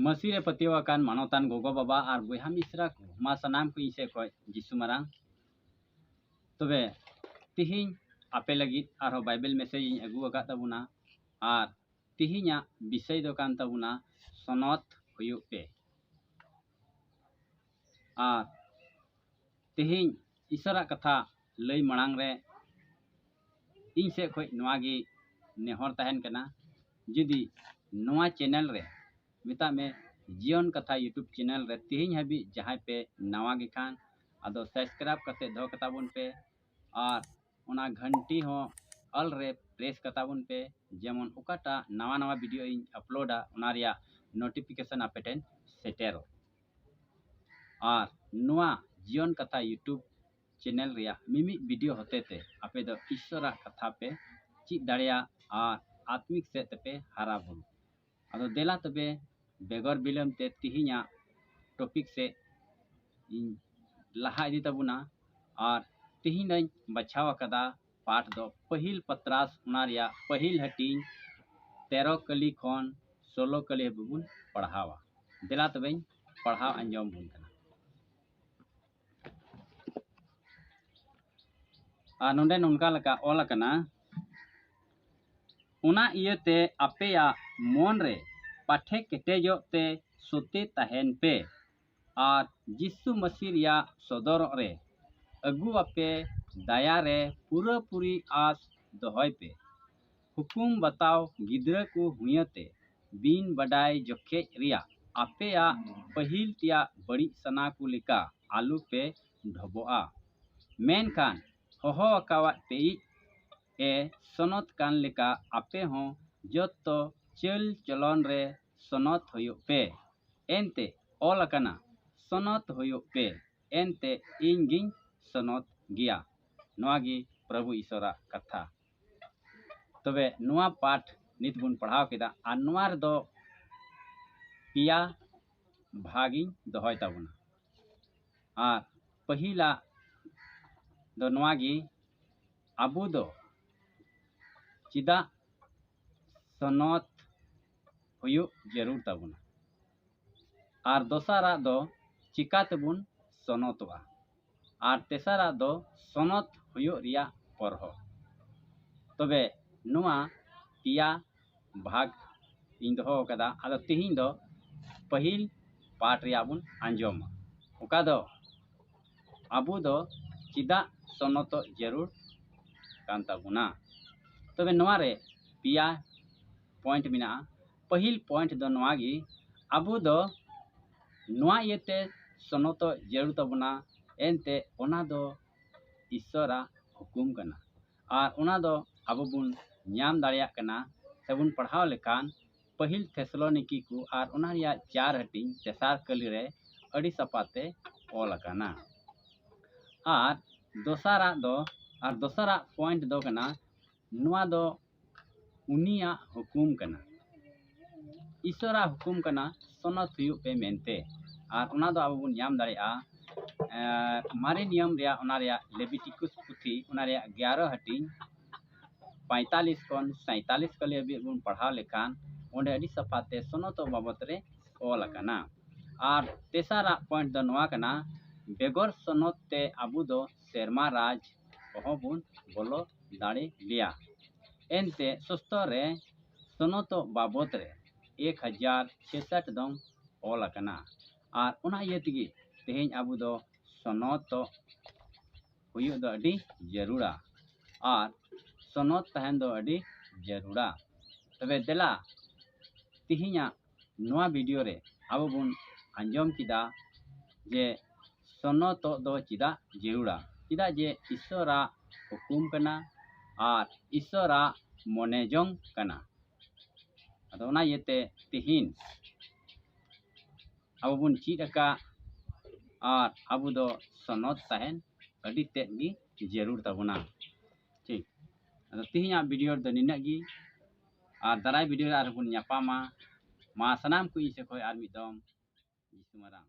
ᱢᱟᱹᱥᱤ ᱨᱮ ᱯᱟᱹᱛᱭᱟᱹᱣ ᱟᱠᱟᱱ ᱢᱟᱱᱚᱛᱟᱱ ᱜᱚᱜᱚ ᱵᱟᱵᱟ ᱟᱨ ᱵᱚᱭᱦᱟ ᱢᱤᱥᱨᱟ ᱠᱚ ᱢᱟ ᱥᱟᱱᱟᱢ ᱠᱚ ᱤᱧ ᱥᱮᱫ ᱠᱷᱚᱱ ᱡᱤᱥᱩ ᱢᱟᱨᱟᱝ ᱛᱚᱵᱮ ᱛᱤᱦᱤᱧ ᱟᱯᱮ ᱞᱟᱹᱜᱤᱫ ᱟᱨᱦᱚᱸ ᱵᱟᱭᱵᱮᱞ ᱢᱮᱥᱮᱡᱽ ᱤᱧ ᱟᱹᱜᱩ ᱟᱠᱟᱫ ᱛᱟᱵᱚᱱᱟ ᱟᱨ ᱛᱤᱦᱤᱧᱟᱜ ᱵᱤᱥᱚᱭ ᱫᱚ ᱠᱟᱱ ᱛᱟᱵᱚᱱᱟ ᱥᱚᱱᱚᱛ ᱦᱩᱭᱩᱜ ᱯᱮ ᱟᱨ ᱛᱤᱦᱤᱧ ᱤᱥᱚᱨᱟᱜ ᱠᱟᱛᱷᱟ ᱞᱟᱹᱭ ᱢᱟᱲᱟᱝ ᱨᱮ ᱤᱧ ᱥᱮᱫ ᱠᱷᱚᱱ ᱱᱚᱣᱟ ᱜᱮ ᱱᱮᱦᱚᱨ ᱛᱟᱦᱮᱱ ᱠᱟᱱᱟ ᱡᱩᱫᱤ ᱱᱚᱣᱟ ᱪᱮᱱᱮᱞ ᱨᱮ ᱢᱮᱛᱟᱜ ᱢᱮ ᱡᱤᱭᱚᱱ ᱠᱟᱛᱷᱟ ᱤᱭᱩᱴᱩᱵᱽ ᱪᱮᱱᱮᱞ ᱨᱮ ᱛᱮᱦᱮᱧ ᱦᱟᱹᱵᱤᱡ ᱡᱟᱦᱟᱸᱭ ᱯᱮ ᱱᱟᱣᱟ ᱜᱮ ᱠᱷᱟᱱ ᱟᱫᱚ ᱥᱟᱵᱥᱠᱨᱟᱭᱤᱵᱽ ᱠᱟᱛᱮ ᱫᱚᱦᱚ ᱠᱟᱛᱟ ᱵᱚᱱ ᱯᱮ ᱟᱨ ᱚᱱᱟ ᱜᱷᱟᱱᱴᱤ ᱦᱚᱸ ᱚᱞ ᱨᱮ ᱯᱨᱮᱥ ᱠᱟᱛᱟ ᱵᱚᱱ ᱯᱮ ᱡᱮᱢᱚᱱ ᱚᱠᱟᱴᱟᱜ ᱱᱟᱣᱟ ᱱᱟᱣᱟ ᱵᱷᱤᱰᱤᱭᱳ ᱤᱧ ᱟᱯᱞᱳᱰᱟ ᱚᱱᱟ ᱨᱮᱭᱟᱜ ᱱᱳᱴᱤᱯᱷᱤᱠᱮᱥᱚᱱ ᱟᱯᱮ ᱴᱷᱮᱱ ᱥᱮᱴᱮᱨᱚᱜ ᱟᱨ ᱱᱚᱣᱟ ᱡᱤᱭᱚᱱ ᱠᱟᱛᱷᱟ ᱭᱩᱴᱩᱵᱽ ᱪᱮᱱᱮᱞ ᱨᱮᱭᱟᱜ ᱢᱤᱢᱤᱫ ᱵᱤᱰᱤᱭᱳ ᱦᱚᱛᱮ ᱛᱮ ᱟᱯᱮ ᱫᱚ ᱤᱥᱥᱚᱨᱟᱜ ᱠᱟᱛᱷᱟ ᱯᱮ ᱪᱮᱫ ᱫᱟᱲᱮᱭᱟᱜ ᱟᱨ ᱟᱛᱢᱤᱠ ᱥᱮᱫ ᱛᱮᱯᱮ ᱦᱟᱨᱟ ᱵᱩᱨᱩ ᱟᱫᱚ ᱫᱮᱞᱟ ᱛᱚᱵᱮ ᱵᱮᱜᱚᱨ ᱵᱤᱞᱚᱢ ᱛᱮ ᱛᱤᱦᱤᱧᱟᱜ ᱴᱚᱯᱤᱠ ᱥᱮᱫ ᱤᱧ ᱞᱟᱦᱟ ᱤᱫᱤ ᱛᱟᱵᱚᱱᱟ ᱟᱨ ᱛᱤᱦᱤᱧ ᱫᱚᱧ ᱵᱟᱪᱷᱟᱣ ᱟᱠᱟᱫᱟ ᱯᱟᱴ ᱫᱚ ᱯᱟᱹᱦᱤᱞ ᱯᱟᱛᱨᱟᱥ ᱚᱱᱟ ᱨᱮᱭᱟᱜ ᱯᱟᱹᱦᱤᱞ ᱦᱟᱹᱴᱤᱧ ᱛᱮᱨᱚ ᱠᱟᱹᱞᱤ ᱠᱷᱚᱱ ᱥᱳᱞᱳ ᱠᱟᱹᱞᱤ ᱦᱟᱹᱵᱤᱡ ᱵᱚᱱ ᱯᱟᱲᱦᱟᱣᱟ ᱫᱮᱞᱟ ᱛᱚᱵᱮᱧ ᱯᱟᱲᱦᱟᱣ ᱟᱸᱡᱚᱢ ᱵᱚᱱ ᱠᱟᱱᱟ ᱟᱨ ᱱᱚᱰᱮ ᱱᱚᱝᱠᱟ ᱞᱮᱠᱟ ᱚᱞ ᱟᱠᱟᱱᱟ ᱚᱱᱟ ᱤᱭᱟᱹᱛᱮ ᱟᱯᱮᱭᱟᱜ ᱢᱚᱱ ᱨᱮ ᱯᱟᱴᱷᱮ ᱠᱮᱴᱮᱡᱚᱜ ᱛᱮ ᱥᱚᱛᱮ ᱛᱟᱦᱮᱱ ᱯᱮ ᱟᱨ ᱡᱤᱥᱩ ᱢᱟᱹᱥᱤ ᱨᱮᱭᱟᱜ ᱥᱚᱫᱚᱨᱚᱜ ᱨᱮ ᱟᱹᱜᱩ ᱟᱯᱮ ᱫᱟᱭᱟ ᱨᱮ ᱯᱩᱨᱟᱹ ᱯᱩᱨᱤ ᱟᱥ ᱫᱚᱦᱚᱭ ᱯᱮ᱾ ᱦᱩᱠᱩᱢ ᱵᱟᱛᱟᱣ ᱜᱤᱫᱽᱨᱟᱹ ᱠᱚ ᱦᱩᱭᱟᱹᱛᱮ ᱵᱤᱱ ᱵᱟᱰᱟᱭ ᱡᱚᱠᱷᱮᱡ ᱨᱮᱭᱟᱜ ᱟᱯᱮᱭᱟᱜ ᱯᱟᱹᱦᱤᱞ ᱛᱮᱭᱟᱜ ᱵᱟᱹᱲᱤᱡ ᱥᱟᱱᱟ ᱠᱚ ᱞᱮᱠᱟ ᱟᱞᱚ ᱯᱮ ᱰᱷᱚᱵᱚᱜᱼᱟ᱾ ᱢᱮᱱᱠᱷᱟᱱ ᱦᱚᱦᱚ ᱟᱠᱟᱣᱟᱫ ᱯᱮᱭᱤᱡ ᱮ ᱥᱚᱱᱚᱛ ᱠᱟᱱ ᱞᱮᱠᱟ ᱟᱯᱮ ᱦᱚᱸ ᱡᱚᱛᱚ ᱪᱟᱹᱞ ᱪᱚᱞᱚᱱ ᱨᱮ ᱥᱚᱱᱚᱛ ᱦᱩᱭᱩᱜ ᱯᱮ ᱮᱱᱛᱮ ᱚᱞ ᱟᱠᱟᱱᱟ ᱥᱚᱱᱚᱛ ᱦᱩᱭᱩᱜ ᱯᱮ ᱮᱱᱛᱮ ᱤᱧ ᱜᱤᱧ ᱥᱚᱱᱚᱛ ᱜᱮᱭᱟ ᱱᱚᱣᱟ ᱜᱮ ᱯᱨᱚᱵᱷᱩ ᱤᱥᱚᱨᱟᱜ ᱠᱟᱛᱷᱟ ᱛᱚᱵᱮ ᱱᱚᱣᱟ ᱯᱟᱴ ᱱᱤᱛ ᱵᱚᱱ ᱯᱟᱲᱦᱟᱣ ᱠᱮᱫᱟ ᱟᱨ ᱱᱚᱣᱟ ᱨᱮᱫᱚ ᱯᱮᱭᱟ ᱵᱷᱟᱜᱤᱧ ᱫᱚᱦᱚᱭ ᱛᱟᱵᱚᱱᱟ ᱟᱨ ᱯᱟᱹᱦᱤᱞᱟᱜ ᱫᱚ ᱱᱚᱣᱟ ᱜᱮ ᱟᱵᱚ ᱫᱚ ᱪᱮᱫᱟᱜ ᱥᱚᱱᱚᱛ ᱦᱩᱭᱩᱜ ᱡᱟᱹᱨᱩᱲ ᱛᱟᱵᱚᱱᱟ ᱟᱨ ᱫᱚᱥᱟᱨᱟᱜ ᱫᱚ ᱪᱤᱠᱟ ᱛᱮᱵᱚᱱ ᱥᱚᱱᱚᱛᱚᱜᱼᱟ ᱟᱨ ᱛᱮᱥᱟᱨᱟᱜ ᱫᱚ ᱥᱚᱱᱚᱛ ᱦᱩᱭᱩᱜ ᱨᱮᱭᱟᱜ ᱯᱚᱨᱦᱚ ᱛᱚᱵᱮ ᱱᱚᱣᱟ ᱯᱮᱭᱟ ᱵᱷᱟᱜᱽ ᱤᱧ ᱫᱚᱦᱚ ᱟᱠᱟᱫᱟ ᱟᱫᱚ ᱛᱤᱦᱤᱧ ᱫᱚ ᱯᱟᱹᱦᱤᱞ ᱯᱟᱴ ᱨᱮᱭᱟᱜ ᱵᱚᱱ ᱟᱸᱡᱚᱢᱟ ᱚᱠᱟ ᱫᱚ ᱟᱵᱚ ᱫᱚ ᱪᱮᱫᱟᱜ ᱥᱚᱱᱚᱛᱚᱜ ᱡᱟᱹᱨᱩᱲ ᱠᱟᱱ ᱛᱟᱵᱚᱱᱟ ᱛᱚᱵᱮ ᱱᱚᱣᱟ ᱨᱮ ᱯᱮᱭᱟ ᱯᱚᱭᱮᱱᱴ ᱢᱮᱱᱟᱜᱼᱟ ᱯᱟᱹᱦᱤᱞ ᱯᱚᱭᱮᱱᱴ ᱫᱚ ᱱᱚᱣᱟ ᱜᱮ ᱟᱵᱚ ᱫᱚ ᱱᱚᱣᱟ ᱤᱭᱟᱹᱛᱮ ᱥᱚᱱᱚᱛᱚᱜ ᱡᱟᱹᱨᱩᱲ ᱛᱟᱵᱚᱱᱟ ᱮᱱᱛᱮᱫ ᱚᱱᱟ ᱫᱚ ᱤᱥᱥᱚᱨᱟᱜ ᱦᱩᱠᱩᱢ ᱠᱟᱱᱟ ᱟᱨ ᱚᱱᱟ ᱫᱚ ᱟᱵᱚ ᱵᱚᱱ ᱧᱟᱢ ᱫᱟᱲᱮᱭᱟᱜ ᱠᱟᱱᱟ ᱥᱮᱵᱚᱱ ᱯᱟᱲᱦᱟᱣ ᱞᱮᱠᱷᱟᱱ ᱯᱟᱹᱦᱤᱞ ᱯᱷᱮᱥᱞᱚᱱᱤᱠᱤ ᱠᱚ ᱟᱨ ᱚᱱᱟ ᱨᱮᱭᱟᱜ ᱪᱟᱨ ᱦᱟᱹᱴᱤᱧ ᱛᱮᱥᱟᱨ ᱠᱟᱹᱞᱤ ᱨᱮ ᱟᱹᱰᱤ ᱥᱟᱯᱟᱛᱮ ᱚᱞ ᱟᱠᱟᱱᱟ ᱟᱨ ᱫᱚᱥᱟᱨᱟᱜ ᱫᱚ ᱟᱨ ᱫᱚᱥᱟᱨᱟᱜ ᱯᱚᱭᱮᱱᱴ ᱫᱚ ᱠᱟᱱᱟ ᱱᱚᱣᱟ ᱫᱚ ᱩᱱᱤᱭᱟᱜ ᱦᱩᱠᱩᱢ ᱠᱟᱱᱟ ᱤᱥᱚᱨᱟᱜ ᱦᱩᱠᱩᱢ ᱠᱟᱱᱟ ᱥᱚᱱᱚᱛ ᱦᱩᱭᱩᱜ ᱯᱮ ᱢᱮᱱᱛᱮ ᱟᱨ ᱚᱱᱟ ᱫᱚ ᱟᱵᱚ ᱵᱚᱱ ᱧᱟᱢ ᱫᱟᱲᱮᱭᱟᱜᱼᱟ ᱢᱟᱨᱮ ᱱᱤᱭᱚᱢ ᱨᱮᱭᱟᱜ ᱚᱱᱟ ᱨᱮᱭᱟᱜ ᱞᱮᱵᱤᱴᱤᱠᱩᱥ ᱯᱩᱛᱷᱤ ᱚᱱᱟ ᱨᱮᱭᱟᱜ ᱜᱮᱭᱟᱨᱚ ᱦᱟᱹᱴᱤᱧ ᱯᱟᱸᱭᱛᱟᱞᱤᱥ ᱠᱷᱚᱱ ᱥᱟᱸᱭᱛᱟᱞᱤᱥ ᱠᱟᱞᱤ ᱦᱟᱹᱵᱤᱡ ᱵᱚᱱ ᱯᱟᱲᱦᱟᱣ ᱞᱮᱠᱷᱟᱱ ᱚᱸᱰᱮ ᱟᱹᱰᱤ ᱥᱟᱯᱷᱟᱛᱮ ᱥᱚᱱᱚᱛ ᱵᱟᱵᱚᱫ ᱨᱮ ᱚᱞ ᱟᱠᱟᱱᱟ ᱟᱨ ᱛᱮᱥᱟᱨᱟᱜ ᱯᱚᱭᱮᱱᱴ ᱫᱚ ᱱᱚᱣᱟ ᱠᱟᱱᱟ ᱵᱮᱜᱚᱨ ᱥᱚᱱᱚᱛ ᱛᱮ ᱟᱵᱚ ᱫᱚ ᱥᱮᱨᱢᱟ ᱨᱟᱡᱽ ᱠᱚᱦᱚᱸ ᱵᱚᱱ ᱵᱚᱞᱚ ᱫᱟᱲᱮ ᱞᱮᱭᱟ ᱮᱱᱛᱮ ᱥᱩᱥᱛᱚ ᱨᱮ ᱥᱚᱱᱚᱛᱚᱜ ᱵᱟᱵᱚᱛ ᱨᱮ ᱮᱠ ᱦᱟᱡᱟᱨ ᱪᱷᱮᱥᱟᱴ ᱫᱚᱝ ᱚᱞ ᱟᱠᱟᱱᱟ ᱟᱨ ᱚᱱᱟ ᱤᱭᱟᱹ ᱛᱮᱜᱮ ᱛᱮᱦᱮᱧ ᱟᱵᱚ ᱫᱚ ᱥᱚᱱᱚᱛᱚᱜ ᱦᱩᱭᱩᱜ ᱫᱚ ᱟᱹᱰᱤ ᱡᱟᱹᱨᱩᱲᱟ ᱟᱨ ᱥᱚᱱᱚᱛ ᱛᱟᱦᱮᱱ ᱫᱚ ᱟᱹᱰᱤ ᱡᱟᱹᱨᱩᱲᱟ ᱛᱚᱵᱮ ᱫᱮᱞᱟ ᱛᱮᱦᱮᱧᱟᱜ ᱱᱚᱣᱟ ᱵᱷᱤᱰᱤᱭᱳ ᱨᱮ ᱟᱵᱚ ᱵᱚᱱ ᱟᱸᱡᱚᱢ ᱠᱮᱫᱟ ᱡᱮ ᱥᱚᱱᱚᱛᱚᱜ ᱫᱚ ᱪᱮᱫᱟᱜ ᱡᱟᱹᱨᱩᱲᱟ ᱪᱮᱫᱟᱜ ᱡᱮ ᱤᱥᱥᱚᱨᱟᱜ ᱦᱩᱠᱩᱢ ᱠᱟᱱᱟ ᱟᱨ ᱤᱥᱥᱚᱨᱟᱜ ᱢᱚᱱᱮ ᱡᱚᱝ ᱠᱟᱱᱟ ᱟᱫᱚ ᱚᱱᱟ ᱤᱭᱟᱹᱛᱮ ᱛᱮᱦᱮᱧ ᱟᱵᱚ ᱵᱚᱱ ᱪᱮᱫ ᱟᱠᱟᱫ ᱟᱨ ᱟᱵᱚ ᱫᱚ ᱥᱚᱱᱚᱛ ᱛᱟᱦᱮᱱ ᱟᱹᱰᱤ ᱛᱮᱫ ᱜᱮ ᱡᱟᱹᱨᱩᱲ ᱛᱟᱵᱚᱱᱟ ᱴᱷᱤᱠ ᱟᱫᱚ ᱛᱮᱦᱮᱧᱟᱜ ᱵᱷᱤᱰᱤᱭᱳ ᱨᱮᱫᱚ ᱱᱤᱱᱟᱹᱜ ᱜᱮ ᱟᱨ ᱫᱟᱨᱟᱭ ᱵᱷᱤᱰᱤᱭᱳ ᱨᱮ ᱟᱨᱦᱚᱸ ᱵᱚᱱ ᱧᱟᱯᱟᱢᱟ ᱢᱟ ᱥᱟᱱᱟᱢ ᱠᱚ ᱤᱧ ᱥᱮᱫ ᱠᱷᱚᱱ ᱟᱨ ᱢᱤᱫ ᱫᱚᱢ ᱡᱤᱥᱩ ᱢᱟᱨᱟᱝ